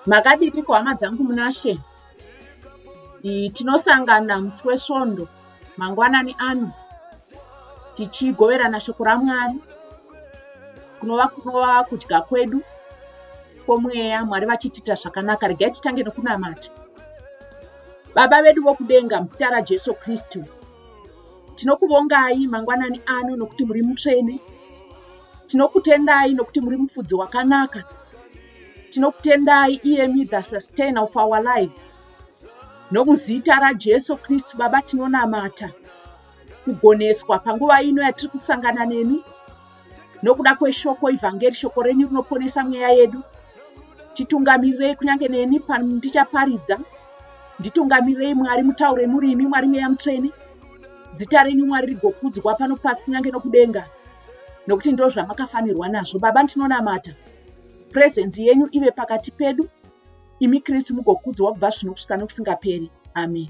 makadiniko hama dzangu munashe tinosangana musi wesvondo mangwanani ano tichigoverana shoko ramwari kunova kunova kudya kwedu kwomweya mwari vachitiita zvakanaka regai titange nokunamata Baba vedu vokudenga, muzita raJesu Kristu, tinokuvongai mangwanani ano nokuti muri mutsvene. Tinokutendai nokuti muri mufudzi wakanaka. Tinokutendai iyemi the sustainer of our lives. Nomuzita raJesu Kristu, Baba, tinonamata kugoneswa panguva ino yatiri kusangana nemi. nokuda kweshoko ivhangeri shoko renyu rinoponesa mweya yedu titungamirirei kunyange neni pandichaparidza nditungamirirei mwari mutaure muri imi mwari mweya mutsvene zita renyu mwari rigokudzwa pano pasi kunyange nokudenga nokuti ndo zvamakafanirwa nazvo baba ndinonamata purezenzi yenyu ive pakati pedu imi kristu mugokudzwa kubva zvino kusvika nokusingaperi amen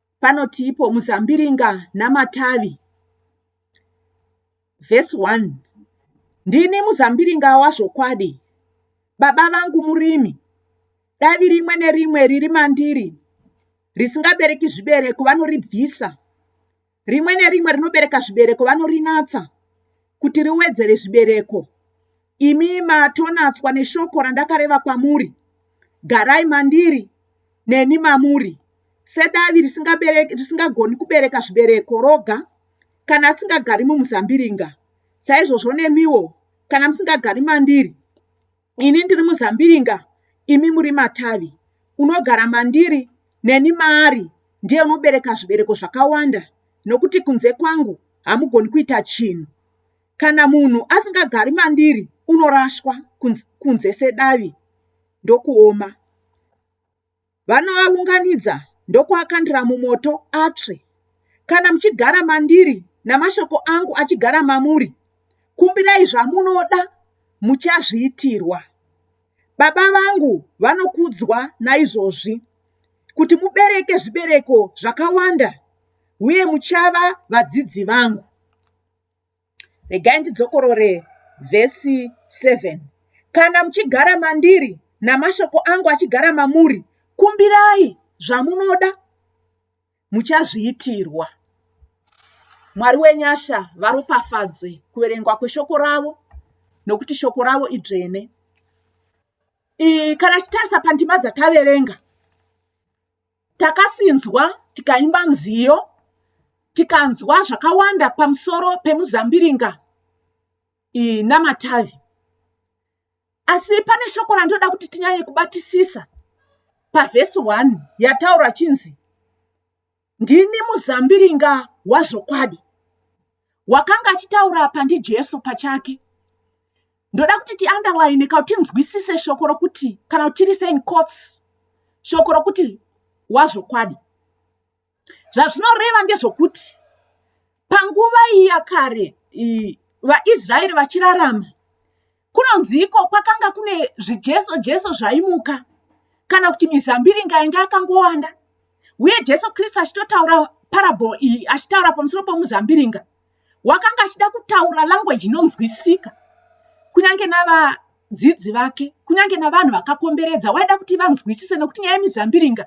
panotiipo muzambiringa namatavi vhesi 1 ndini muzambiringa wazvokwadi baba vangu murimi davi rimwe nerimwe riri mandiri risingabereki zvibereko vanoribvisa rimwe nerimwe rinobereka zvibereko vanorinatsa kuti riwedzere zvibereko imi matonatswa neshoko randakareva kwamuri garai mandiri neni mamuri sedavi risingagoni kubereka zvibereko roga kana asingagari mumuzambiringa saizvozvo nemiwo kana musingagari mandiri ini ndiri muzambiringa imi muri matavi unogara mandiri neni maari ndiye unobereka zvibereko zvakawanda nokuti kunze kwangu hamugoni kuita chinhu Kana munhu asingagari mandiri unorashwa kunze sedavi ndokuoma. Vanoaunganidza ndokuakandira mumoto atsve. Kana muchigara mandiri namashoko angu achigara mamuri, kumbirai zvamunoda muchazviitirwa. Baba vangu vanokudzwa naizvozvi kuti mubereke zvibereko zvakawanda uye muchava vadzidzi vangu. Regai ndidzokorore vhesi 7 kana muchigara mandiri namashoko angu achigara mamuri kumbirai zvamunoda muchazviitirwa mwari wenyasha varopafadze kuverengwa kweshoko ravo nokuti shoko ravo idzvene kana tichitarisa pandima dzataverenga takasinzwa tikaimba nziyo tikanzwa zvakawanda pamusoro pemuzambiringa namatavi asi pane shoko randoda kuti tinyanye kubatisisa pavhesi 1 yataura chinzi ndini muzambiringa wazvokwadi wakanga achitaura apa ndijesu pachake ndoda kuti tiunderline ka kuti tinzwisise shoko rokuti kana kuti tiri sein cots shoko rokuti wazvokwadi zvazvinoreva ndezvokuti panguva iya kare vaisraeri vachirarama kunonzi iko kwakanga kune zvijeso jeso zvaimuka kana kuti mizambiringa yanga yakangowanda uye jesu kristu achitotaura parable iyi achitaura pamusoro pomuzambiringa wakanga achida kutaura language inonzwisika kunyange nava dzidzi vake kunyange navanhu vakakomberedza waida kuti vanzwisise nokuti nyaya yemizambiringa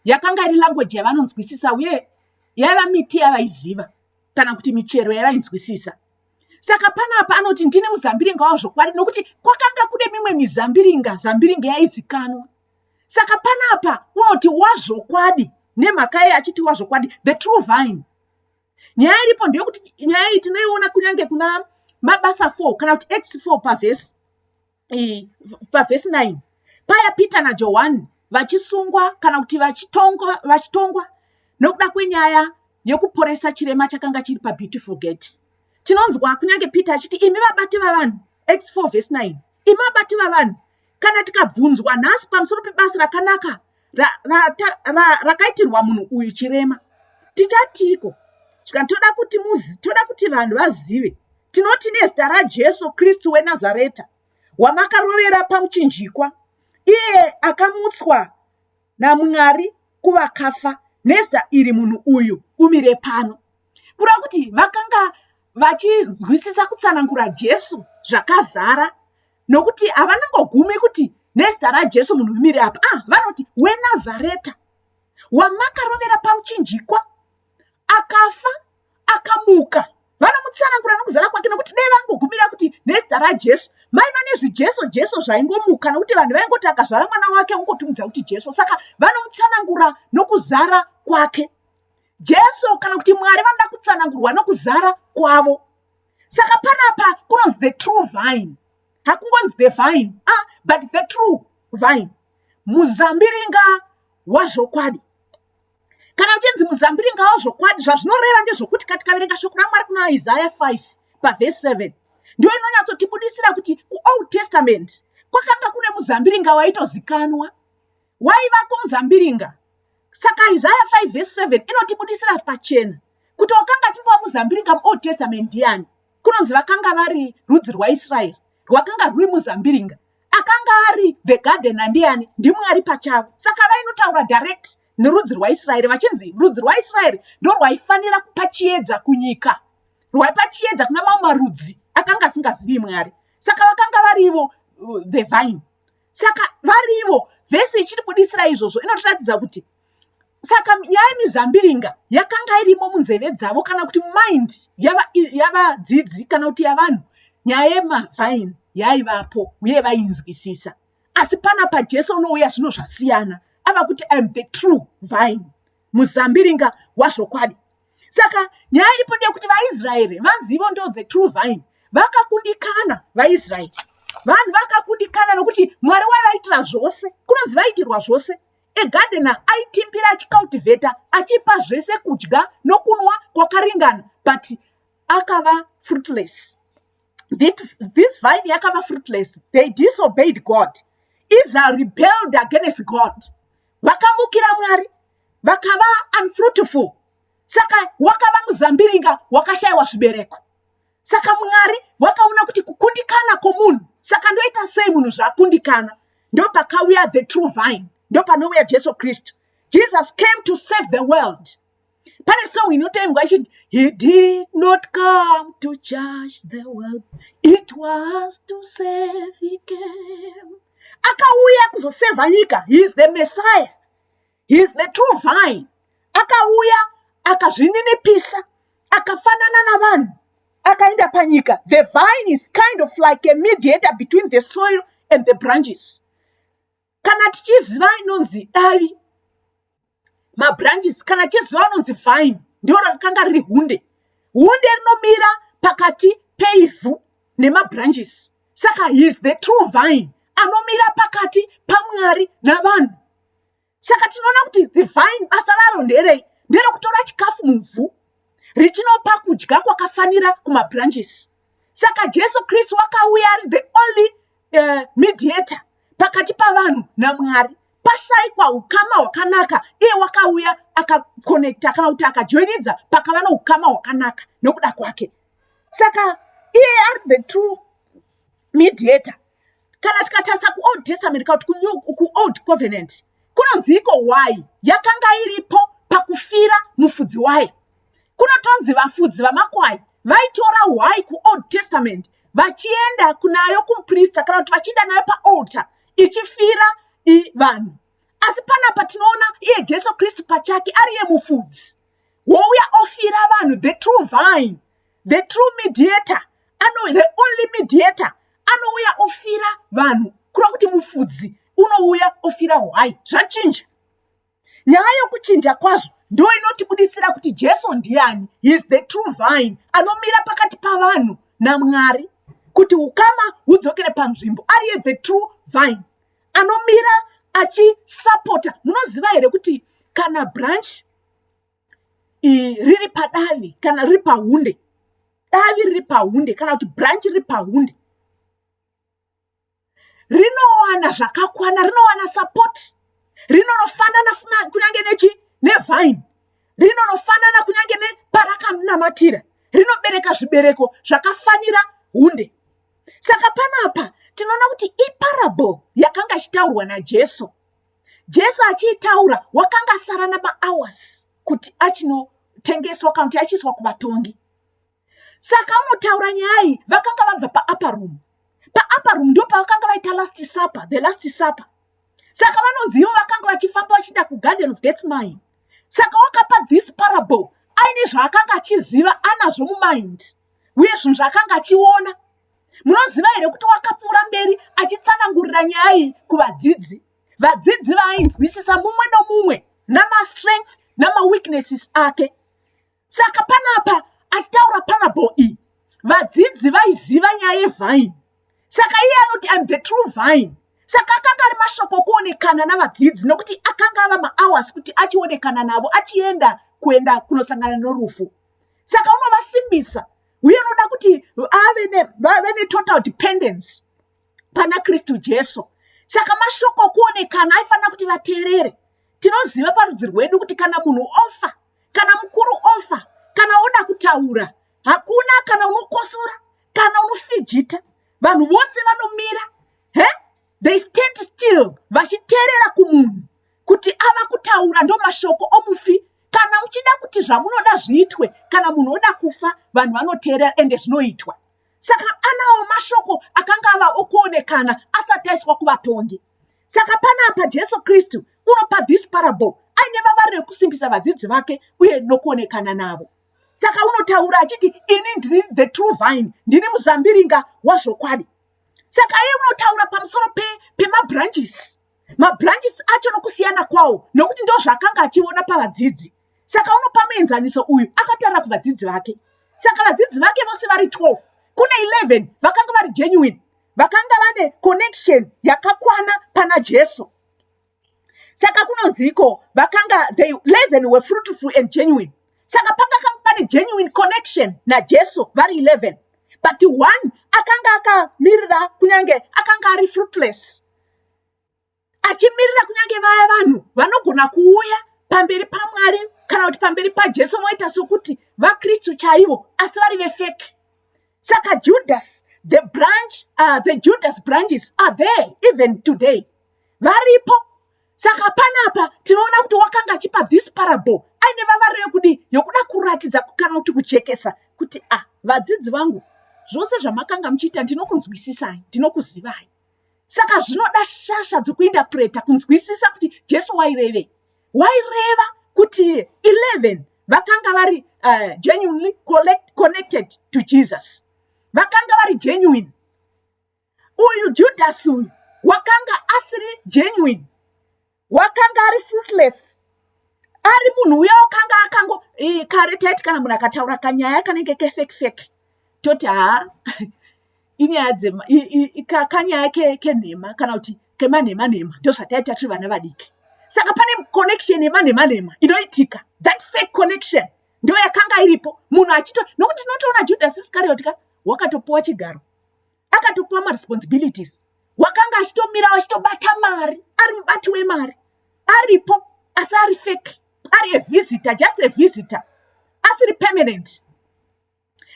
yakanga iri language yavanonzwisisa uye yaiva miti yavaiziva kana kuti michero yavainzwisisa saka panapa anoti ndine muzambiringa wavo zvokwadi nokuti kwakanga kune mimwe mizambiringa zambiringa yaizikanwa saka panapa unoti wazvokwadi nemhaka yei achiti wazvokwadi the true vine nyaya iripo ndeyokuti nyaya iyi tinoiona kunyange kuna mabasa four kana kuti x four pavhesi pavhesi 9 paya peter najohani vachisungwa kana kuti vachitongwa vachitongwa nokuda kwenyaya yekuporesa chirema chakanga chiri pabeautiful gate tinonzwa kunyange peter achiti imi vabati vavanhu x4 vhesi 9 imi vabati vavanhu kana tikabvunzwa nhasi pamusoro pebasa rakanaka rakaitirwa ra, ra, ra, munhu uyu chirema tichatiko zvikanzi toda kuti muzi toda kuti vanhu vazive tinoti nezita rajesu kristu wenazareta wamakarovera pamuchinjikwa iye akamutswa namwari kuvakafa nezita iri munhu uyu umire pano kureva kuti vakanga vachinzwisisa kutsanangura jesu zvakazara nokuti havanangogumi kuti nezita rajesu munhu vimire apa ah vanoti wenazareta wamakarovera pamuchinjikwa akafa akamuka vanomutsanangura nokuzara kwake nokuti dai vangogumira kuti nezita rajesu mai vane zvijeso jeso zvaingomuka nokuti vanhu vaingoti akazvara mwana wake ungotumudza kuti jeso saka vanomutsanangura nokuzara kwake jesu kana kuti mwari vanoda kutsanangurwa nokuzara kwavo saka panapa kunonzi the true vine hakungonzi the vine ah, but the true vine muzambiringa wazvokwadi kana uchinzi muzambiringa wazvokwadi zvazvinoreva ndezvokuti kati kaverenga shoko ramwari kuna isaya 5 pavhesi 7 ndiyo inonyatsotibudisira kuti kuold testament kwakanga kune muzambiringa waitozikanwa waiva kumuzambiringa. Saka Isaya 5 verse 7 inotibudisira pachena kuti wakanga achimbova muzambiringa muOld Testament ndiyani. Kunonzi vakanga vari rudzi rwaIsraeri rwakanga rwuri muzambiringa. Akanga ari the garden andiyani? NdiMwari pachavo. Saka vainotaura direct nerudzi rwaIsraeri vachinzi rudzi rwaIsraeri ndorwaifanira kupa chiedza kunyika, rwaipa chiedza kuna mamwe marudzi akanga asingazivi Mwari. Saka vakanga vari ivo uh, the vine. saka varivo vhesi ichitibudisira izvozvo inotiratidza kuti saka nyaya yemizambiringa yakanga irimo munzeve dzavo kana kuti mind yavadzidzi yava kana kuti yavanhu nyaya yemavhaini yaivapo uye vainzwisisa asi pana pajesu unouya zvino zvasiyana ava kuti im the true vine muzambiringa wazvokwadi saka nyaya iripo ndeyekuti vaisraeri vanzi ivo ndo the true vine vakakundikana vaisraeri vanhu vakakundikana nokuti mwari waivaitira zvose kunonzi vaitirwa zvose egadena aitimbira achicultivata achipa zvese kudya nokunwa kwakaringana but akava fruitless this vine yakava fruitless they disobeyed god israel rebelled against god vakamukira mwari vakava unfruitful saka wakava muzambiringa wakashayiwa zvibereko saka mwari wakaona kuti kukundikana kwomunhu saka ndoita sei munhu zvakundikana ndopakauya the true vine ndopanouya jesu kristu jesus came to save the world pane song inotoimbwa ichiti he did not come to judge the world it was to save he came akauya kuzosevha nyika he is the messiah he's the true vine akauya akazvininipisa akafanana navanhu akaenda panyika the vine is kind of like a mediator between the soil and the branches kana tichiziva inonzi davi mabranches kana tichiziva anonzi vine ndiro rakanga riri hunde hunde rinomira pakati peivhu nemabranches saka he is the true vine anomira pakati pamwari navanhu saka tinoona kuti the vine basa raro nderei nderokutora chikafu muvhu richinopa kudya kwakafanira kumabranches saka jesu kristu wakauya ari the only uh, mediator pakati pavanhu namwari pashaikwa ukama hwakanaka iye wakauya akakonekta kana kuti akajoinidza pakava noukama hwakanaka nokuda kwake saka iye ari the true mediator kana tikatarisa kuold testament kana kuti kuold covenant kunonziiko why yakanga iripo pakufira mufudzi wayo kunotonzi vafudzi vamakwai vaitora why kuold testament vachienda kunayo kumuprista kana kuti vachienda nayo paalter ichifira vanhu asi panapa tinoona iye jesu kristu pachake ari ye mufudzi wouya ofira vanhu the true vine the true mediator ano the only mediator anouya ofira vanhu kura kuti mufudzi unouya ofira hwai zvachinja nyaya yokuchinja kwazvo ndo inotibudisira kuti jesu ndiani his the true vine anomira pakati pavanhu namwari kuti ukama hudzokere panzvimbo ariye the true vine anomira achisapota munoziva here kuti kana branch riri padavi kana riri pahunde davi riri pahunde kana kuti branch riri pahunde rinowana zvakakwana rinowana support rinonofanana kunyange nechi nevine rinonofanana kunyange neparakamunamatira rinobereka zvibereko zvakafanira hunde saka panapa tinoona kuti iparable yakanga ichitaurwa najesu jesu achiitaura wakanga asara namahours kuti achinotengeswa kana kuti achiiswa kuvatongi saka unotaura nyaya iyi vakanga vabva paapa room paapa room ndo pavakanga vaita last supper the last supper saka vanoziva vakanga vachifamba vachida kugarden of gets mine saka wakapa this parable aine zvaakanga achiziva anazvo mumind uye zvinhu zvaakanga achiona munoziva here kuti wakapfuura mberi achitsanangurira nyaya iyi kuvadzidzi vadzidzi vaainzwisisa mumwe nomumwe namastrength namaweaknesses ake saka panapa achitaura panabo iyi vadzidzi vaiziva nyaya yevhine saka iye anoti im the true vhine saka akanga ari mashoko okuonekana navadzidzi nokuti akanga ava mahours kuti achionekana navo achienda kuenda kunosangana norufu saka unovasimbisa uye anoda kuti ave netotal dependence pana kristu jesu saka mashoko okuonekana aifanira kuti vateerere tinoziva parudzi rwedu kuti kana munhu ofa kana mukuru ofa kana oda kutaura hakuna kana unokosora kana unofijita vanhu vose vanomira he they stand still vachiterera kumunhu kuti ava kutaura ndomashoko omufi kana muchida kuti zvamunoda zviitwe kana munhu oda kufa vanhu vanoteerera ende zvinoitwa saka anawo mashoko akanga ava okuonekana asati aiswa kuvatongi saka pana apa jesu kristu unopa this parable aine vavari rekusimbisa vadzidzi vake uye nokuonekana navo saka unotaura achiti ini ndiri the true vine ndini muzambiringa wazvokwadi saka iye unotaura pamusoro pemabranches mabranches acho nokusiyana kwawo nokuti ndo zvaakanga achiona pavadzidzi saka unopa muenzaniso uyu akataura kuvadzidzi vake saka vadzidzi vake vose vari 12 kune 11 vakanga vari genuine vakanga vane connection yakakwana pana jesu saka kunonziiko vakanga they leven were fruitful and genuine saka panga kanga pane genuine connection najesu vari 11 but one akanga akamirira kunyange akanga ari fruitless achimirira kunyange vaya vanhu vanogona kuuya pamberi pamwari kana kuti pamberi pajesu moita sokuti vakristu chaivo asi vari vefeki saka judas the branch uh, the judas branches are there even today varipo saka panapa tinoona kuti wakanga achipa this parable aine vavaro yekudii yokuda kuratidza kana kuti kujekesa kuti a ah, vadzidzi vangu zvose zvamakanga muchiita ndinokunzwisisai ndinokuzivai saka zvinoda shasha dzekuindapureta kunzwisisa kuti jesu wairevei waireva kuti 11 vakanga vari uh, genuinely collect, connected to jesus vakanga vari genuine uyu judhasi uyu wakanga asiri genuine wakanga ari fruitless ari munhu uya wakanga akango kare taiti kana munhu akataura kanyaya kanenge kefekfek toti haa inyaya dzema kanyaya kenhema kana kuti kemanhema nhema ndo zvataita tiri vana vadiki saka pane connection yemanhema nhema inoitika that fake connection ndo yakanga iripo munhu achito nokuti tinotoona judhasi isikarioti ka wakatopuwa chigaro akatopiwa maresponsibilities wakanga achitomira achitobata mari ari mubati wemari aripo asi ari fake ari avisitor just avisitor asiri permanent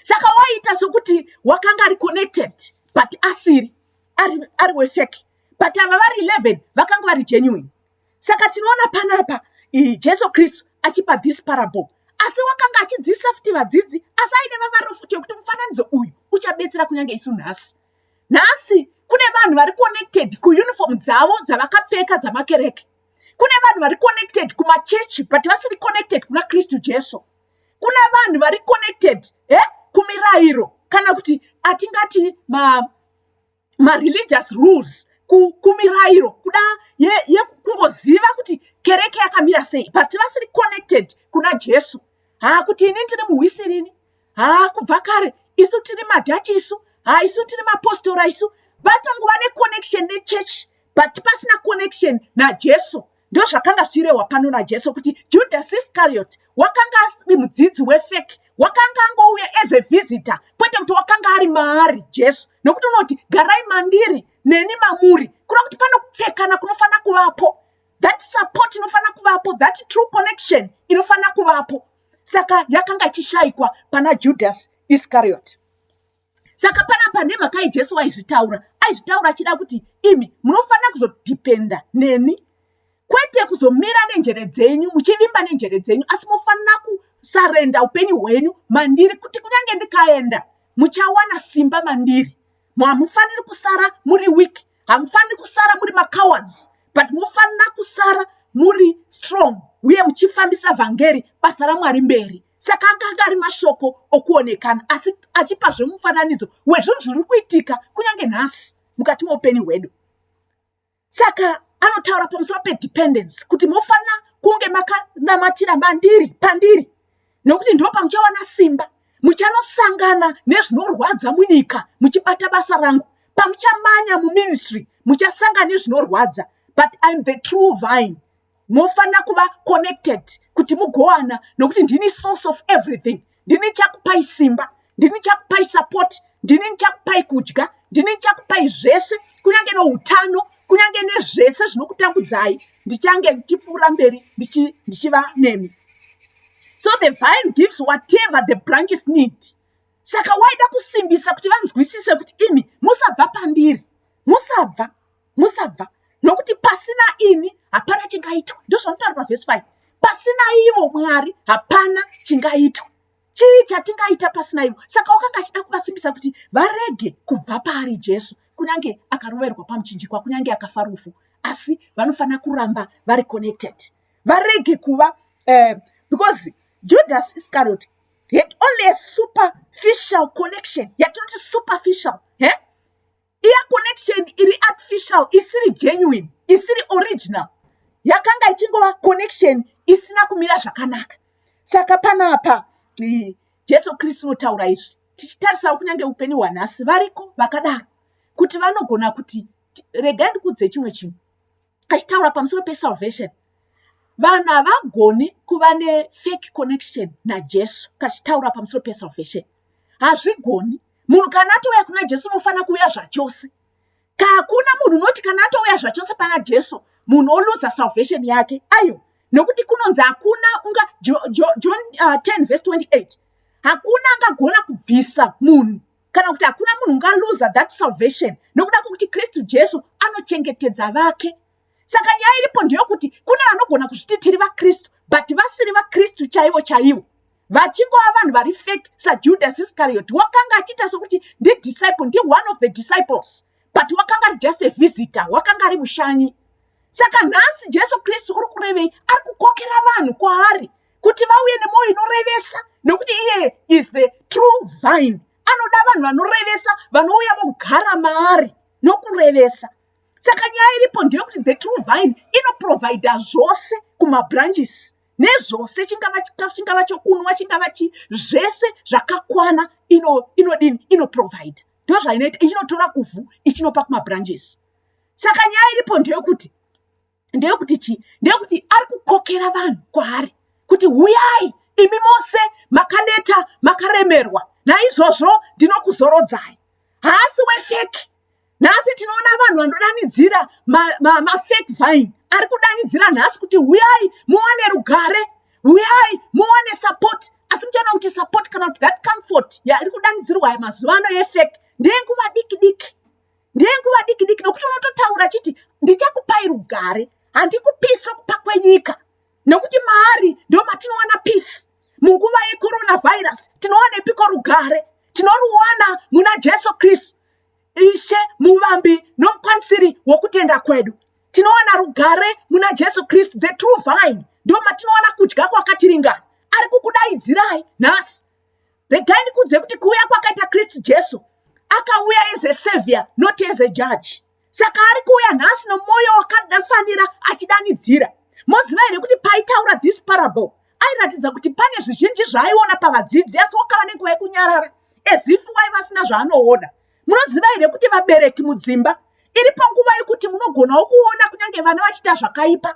saka waita sokuti wakanga ari connected but asiri ari, ari wefake but ava vari 11 vakanga vari genuine saka tinoona panapa jesu kristu achipa this parable asi wakanga achidzidzisa futi vadzidzi asi aine vavaro futi yekuti mufananidzo uyu uchabetsera kunyange isu nhasi nhasi kune vanhu vari connected kuuniform dzavo dzavakapfeka dzamakereke kune vanhu vari connected kumachechi but vasiri connected kuna kristu jesu kuna vanhu vari connected e kumirayiro kana kuti atingati ma mareligious rules kumirairo kuda yekungoziva ye, kuti kereke yakamira sei but vasiri connected kuna jesu haa kuti ini ndiri muhwisirini haa kubva kare isu tiri madhachi isu haa isu tiri mapostora isu vatongova neconnection nechurch but pasina connection najesu ndozvakanga zvichirehwa pano najesu kuti judhasi iscariot wakanga asiri mudzidzi wefeki wakanga angouya as a visitor kwete kuti wakanga ari maari jesu nokuti unoti garai mandiri neni mamuri kuda kuti panopfekana kunofanira kuvapo that support inofanira kuvapo that true connection inofanira kuvapo saka yakanga ichishayikwa pana judhasi iscariot saka panapa nemhaka yejesu aizvitaura aizvitaura achida kuti imi munofanira kuzodhipenda neni kwete kuzomira nenjere dzenyu muchivimba nenjere dzenyu asi mofanira kusarenda upenyu hwenyu mandiri kuti kunyange ndikaenda muchawana simba mandiri hamufaniri kusara muri wiki hamufaniri kusara muri macowards but mofanira kusara muri strong uye muchifambisa vhangeri basa ramwari mberi saka akanga ari mashoko okuonekana asi achipa zvemufananidzo wezvinhu zviri kuitika kunyange nhasi mukati meupenyu hwedu saka anotaura pamusoro pedependence kuti mofanira kunge makanamatira mandiri pandiri nokuti ndipo pamuchawana simba muchanosangana nezvinorwadza munyika muchibata basa rangu pamuchamanya muministry muchasangana nezvinorwadza but im the true vine mofanira kuva connected kuti mugowana nokuti ndini source of everything ndini chakupai simba ndini ndichakupai support ndini ndichakupai kudya ndini ndichakupai zvese kunyange noutano kunyange nezvese zvinokutambudzai ndichange ndichipfuura mberi ndichiva nemi so the vine gives whatever the branches need saka waida kusimbisa kuti vanzwisise kuti imi musabva pandiri musabva musabva nokuti pasina ini hapana chingaitwa ndozvanotaura pavhesi 5 pasina ivo mwari hapana chingaitwa chii chatingaita pasina ivo saka wakanga achida kuvasimbisa kuti varege kubva paari jesu kunyange akaroverwa pamuchinjikwa kunyange akafa rufu asi vanofanira kuramba vari connected varege kuva uh, because judas iscariot had only a superficial connection yatinoti superficial he eh? iya connection iri artificial isiri genuine isiri original yakanga ichingova connection isina kumira zvakanaka saka panapa jesu kristu unotaura izvi tichitarisawo kunyange upenyu hwanhasi variko vakadaro kuti vanogona kuti regai ndikudze chimwe chinhu achitaura pamusoro pesalvation vanhu havagoni kuva nefake connection najesu kachitaura pamusoro pesalvation hazvigoni munhu kana atouya kuna jesu unofanira kuuya zvachose kakuna munhu unoti kana atouya zvachose pana jesu munhu oluza salvation yake ayo nokuti kunonzi hakuna unga john 10 uh, vese 28 hakuna angagona kubvisa munhu kana kuti hakuna munhu ungaluza that salvation nokuda kwokuti kristu jesu anochengetedza vake saka nyaya iripo ndeyokuti kune vanogona kuzviti tiri vakristu but vasiri vakristu chaivo chaivo vachingova vanhu vari fake sajudas iscariot wakanga achiita sokuti ndidisciple ndi one of the disciples but wakanga ari just a visitor wakanga ari mushanyi saka nhasi jesu kristu uri kurevei ari kukokera vanhu kwaari kuti vauye nemwoyo inorevesa nekuti iyeye is the true vine anoda vanhu vanorevesa vanouya vogara maari nokurevesa saka nyaya iripo ndeyekuti the true vine inoprovidha zvose kumabranches nezvose chingava chikafu chingava chokunwa chingava chi zvese zvakakwana inodini inoprovidha ndo zvainoita ichinotora kuvhu ichinopa kumabranches saka nyaya iripo ndeyekuti ndeyekuti chii ndeyekuti ari kukokera vanhu kwaari kuti huyai imi mose makaneta makaremerwa naizvozvo ndinokuzorodzai haasi wefeki nhasi tinoona vanhu vanodanidzira mafake vine ari kudanidzira nhasi kuti huyai muwane rugare huyai muwane support asi muchaona kuti support kana kuti that comfort yaari kudanidzirwa mazuva ano yefeki ndeyenguva diki diki ndenguva diki diki nokuti unototaura chiti ndichakupai rugare handikupisi okupa kwenyika nokuti maari ndo matinowana pisi munguva yecoronavirus tinowanepiko rugare tinoruwana muna jesu kristu ishe muvambi nomukwanisiri wokutenda kwedu tinowana rugare muna jesu kristu the true vine ndo matinowana kudya kwakatiringana ari kukudaidzirai nhasi regai ndikuudze kuti kuuya kwakaita kristu jesu akauya as a savior not as a judge saka ari kuuya nhasi nomwoyo wakadafanira achidanidzira moziva here kuti paitaura this parable airatidza kuti pane zvizhinji zvaaiona pavadzidzi asi wakava nenguva yekunyarara ezifu waiva asina zvaanoona munoziva here kuti vabereki mudzimba iripo nguva yekuti munogonawo kuona kunyange vana vachiita zvakaipa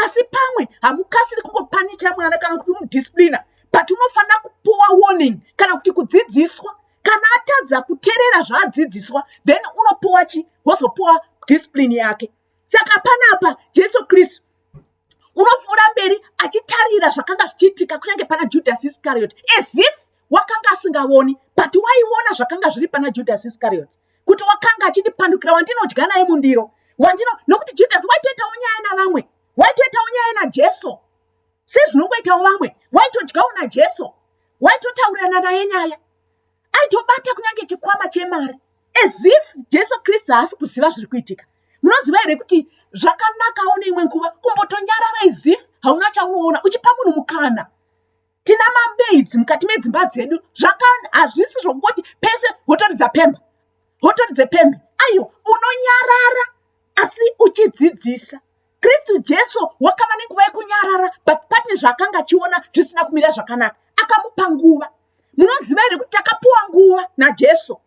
asi pamwe hamukasiri kungopanicha mwana kana kuti umudisciplina but unofanira kupuwa warning kana kuti kudzidziswa kana atadza kuterera zvaadzidziswa then unopuwa chi wozopuwa discipline yake saka panapa jesu kristu unopfuura mberi achitarira zvakanga zvichiitika kunyange pana judhasi iscariot as if wakanga asingavoni but waiona zvakanga zviri pana judhasi iscariot kuti wakanga achindipandukira wandinodya naye mundiro wandino nokuti judhasi waitoitawo nyaya navamwe waitoitawo nyaya najesu sezvinongoitawo vamwe waitodyawo najesu waitotaurirana naye nyaya aitobata kunyange chikwama chemari as if jesu kristu haasi kuziva zviri kuitika munoziva here kuti zvakanakawo neimwe nguva kumbotonyarara as if hauna chaunoona uchipa munhu mukana tina mamaids mukati medzimba dzedu zvakani hazvisi zvokungoti pese hotoridza pembe hotoridze pembe aiwa unonyarara asi uchidzidzisa kristu jesu wakava nenguva yekunyarara but pane zvaakanga achiona zvisina kumira zvakanaka akamupa nguva munoziva here kuti takapiwa nguva najesu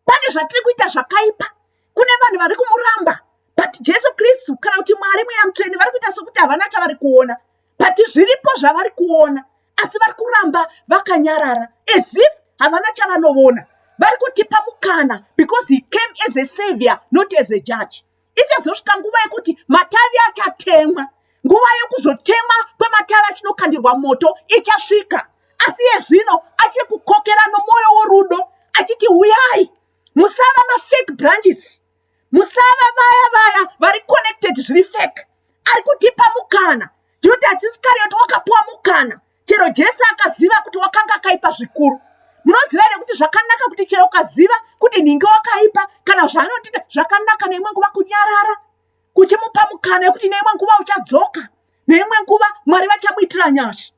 pane zvatiri kuita zvakaipa kune vanhu vari kumuramba but jesu kristu kana kuti mwari mweya mutsvene vari kuita sokuti havana chavari kuona but zviripo zvavari kuona asi vari kuramba vakanyarara as if havana chavanovona vari kutipa mukana because he came as a savior not as a judge ichazosvika nguva yekuti matavi achatemwa nguva yekuzotemwa kwematavi achinokandirwa moto ichasvika asi iye zvino achiri kukokera nomwoyo worudo achiti huyai musava mafake branches musava vaya vaya vari connected zviri fake ari kutipa mukana tinoti hatisiskariyoti wakapiwa mukana chero jesu akaziva kuti wakanga akaipa zvikuru munoziva here kuti zvakanaka kuti chero ukaziva kuti nhingi wakaipa kana zvaanotiita zvakanaka neimwe nguva kunyarara kuchimupa mukana yekuti neimwe nguva uchadzoka neimwe nguva mwari vachamuitira nyasha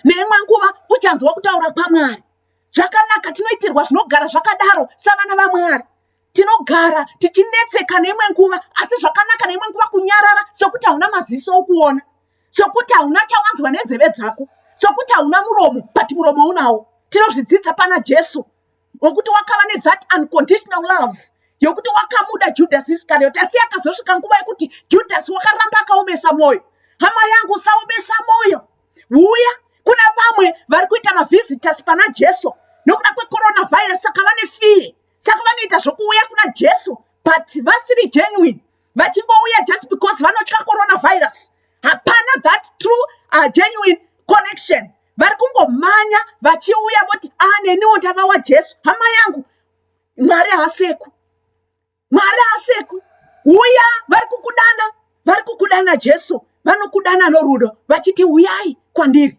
neimwe nguva uchanzwa kutaura kwamwari zvakanaka tinoitirwa zvinogara zvakadaro savana vamwari tinogara tichinetseka neimwe nguva asi zvakanaka neimwe nguva kunyarara sokuti hauna maziso okuona sokuti hauna chawanzwa nenzeve dzako sokuti hauna muromo but muromo unawo tinozvidzidza pana jesu wekuti wakava nethat unconditional love yokuti wakamuda judhasi iskarioti asi akazosvika nguva yekuti judhasi wakaramba akaomesa mwoyo hama yangu usaomesa mwoyo huya kuna vamwe vari kuita mavhizitasi pana jesu nokuda kwecoronavirus saka vane fiye saka vanoita zvokuuya kuna jesu but vasiri genuine vachingouya just because vanotya coronavirus hapana that true uh, genuine connection vari kungomhanya vachiuya voti a ah, neniwo ndava wajesu hama yangu mwari haaseku mwari haaseku uya vari kukudana vari kukudana jesu vanokudana norudo vachiti uyai kwandiri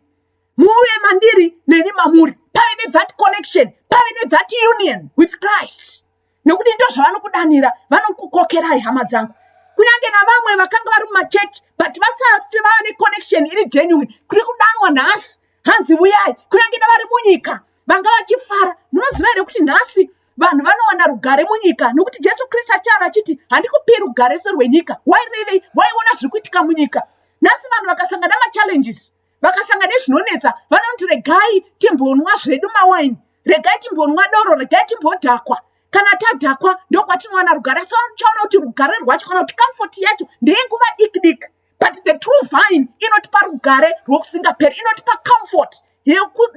muve mandiri neni mamuri pave nethat connection pave nethat union with christ nekuti ndo zvavanokudanira vanokukokerai hama dzangu kunyange navamwe vakanga vari mumachechi but vasati vava neconnection iri genuine kuri kudanwa nhasi hanzi vuyai kunyange davari munyika vanga vachifara munoziva here kuti nhasi vanhu vanowana rugare munyika nokuti jesu kristu achava vachiti handikupi rugare serwenyika why revei waiona zviri kuitika munyika nhasi vanhu vakasangana machallenges vakasanga nezvinonetsa vanoti regai timbonwa zvedu mawaini regai timbonwa doro regai timbodhakwa kana tadhakwa ndokwatinowana rugare so chaona kuti rugare rwacho kana kuti comfort yacho ndeyenguva diki diki but the true vine inotipa rugare rwokusingaperi inotipa comfort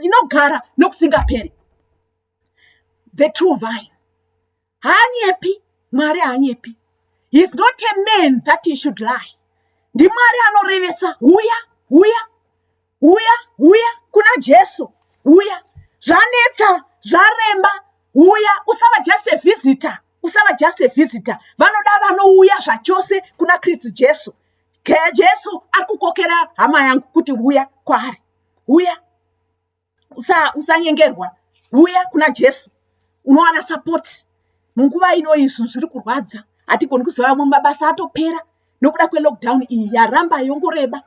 inogara nokusingaperi the true vine haanyepi mwari haanyepi heis not a man that he should lie ndimwari anorevesa huya huya huya huya kuna jesu huya zvanetsa zvaremba huya usava just a visitor usava just a visitor vanoda vanouya zvachose kuna kristu jesu jesu ari kukokera hama yangu kuti huya kwaari huya usa- usanyengerwa uya kuna jesu unowana sapoti munguva ino izvi zviri kurwadza hatigoni kuziva amwe mabasa atopera nokuda kwelockdown iyi yaramba yongoreba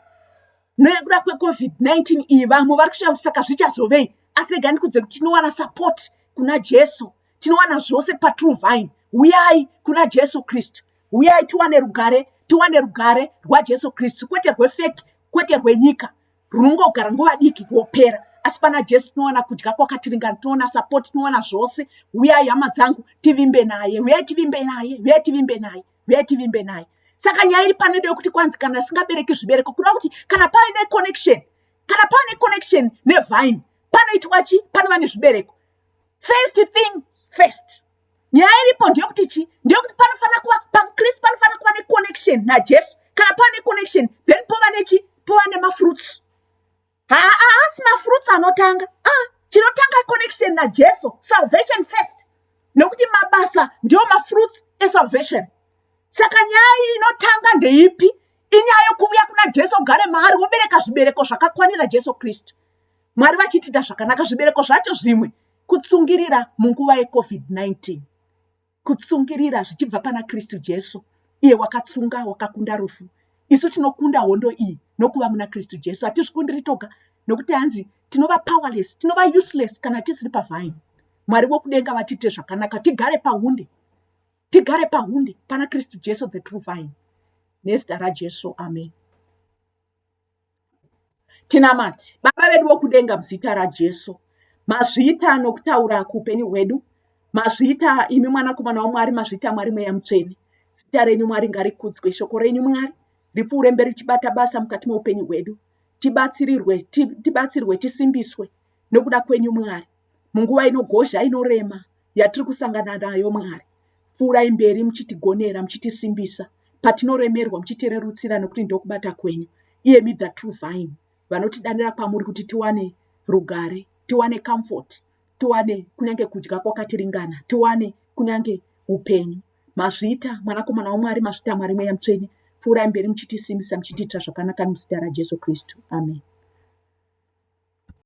nekuda kwecovid-19 iyi vamwe vari kushaya kuti saka zvichazovei asi rega ndikudze kuti tinowana sapoti kuna jesu tinowana zvose patrue vine huyai kuna jesu kristu huyai tiwane rugare tiwane rugare rwajesu kristu kwete rwefeki kwete rwenyika runongogara nguva diki kuopera asi pana jesu tinowana kudya kwakatiringana tinoona sapoti tinowana zvose huyai hama dzangu tivimbe naye huyai tivimbe naye huyai tivimbe naye huyai tivimbe naye saka nyaya iri panoida yokuti kwanzi kana risingabereki zvibereko kuda kuti kana paine connection kana paine connection nevine panoitwa chi panova nezvibereko first thing first nyaya iripo ndeyekuti chii ndeyekuti panofanira kuva pamukristu panofanira kuva neconnection najesu kana pava neconnection then pova nechi pova nemafruits haasi mafruits anotanga ah, chinotanga connection najesu salvation first nekuti mabasa ndiwo mafruits esalvation saka nyaya iyi inotanga ndeipi inyaya yokuvuya kuna jesu ogare maari wobereka zvibereko zvakakwanira jesu kristu mwari vachitida zvakanaka zvibereko zvacho zvimwe Kutsungirira munguva yeCovid-19. Kutsungirira zvichibva pana Kristu Jesu, iye wakatsunga, wakakunda rufu. Isu tinokunda hondo iyi nokuva muna Kristu Jesu. Hatizvikundiri toga, nokuti hanzi tinova powerless, tinova useless kana tisiri pavine. Mwari vokudenga vatiite zvakanaka, tigare pahunde, tigare pahunde pana Kristu Jesu, the true vine. Nezita raJesu, amen. Tinamate. Baba vedu vokudenga muzita raJesu, mazvita nokutaura kuupenyu hwedu, mazvita imi mwanakomana waMwari, mazvita Mwari mweya mutsvene. Zita renyu Mwari ngarikudzwe, shoko renyu Mwari ripfuure mberi chibata basa mukati meupenyu hwedu, tibatsirirwe, tibatsirwe, tisimbiswe nokuda kwenyu Mwari. munguva inogozha inorema yatiri kusangana nayo mwari pfuurai mberi muchitigonera muchitisimbisa patinoremerwa muchitirerutsira nokuti ndokubata kwenyu iyemi the true vine vanotidanira kwamuri kuti tiwane rugare tiwane comfort tiwane kunyange kudya kwakatiringana tiwane kunyange upenyu mazvita mwanakomana wamwari mazvita mwari mweya mutsvene pfuurai mberi muchitisimbisa muchitiitira zvakanaka nomuzita rajesu kristu amen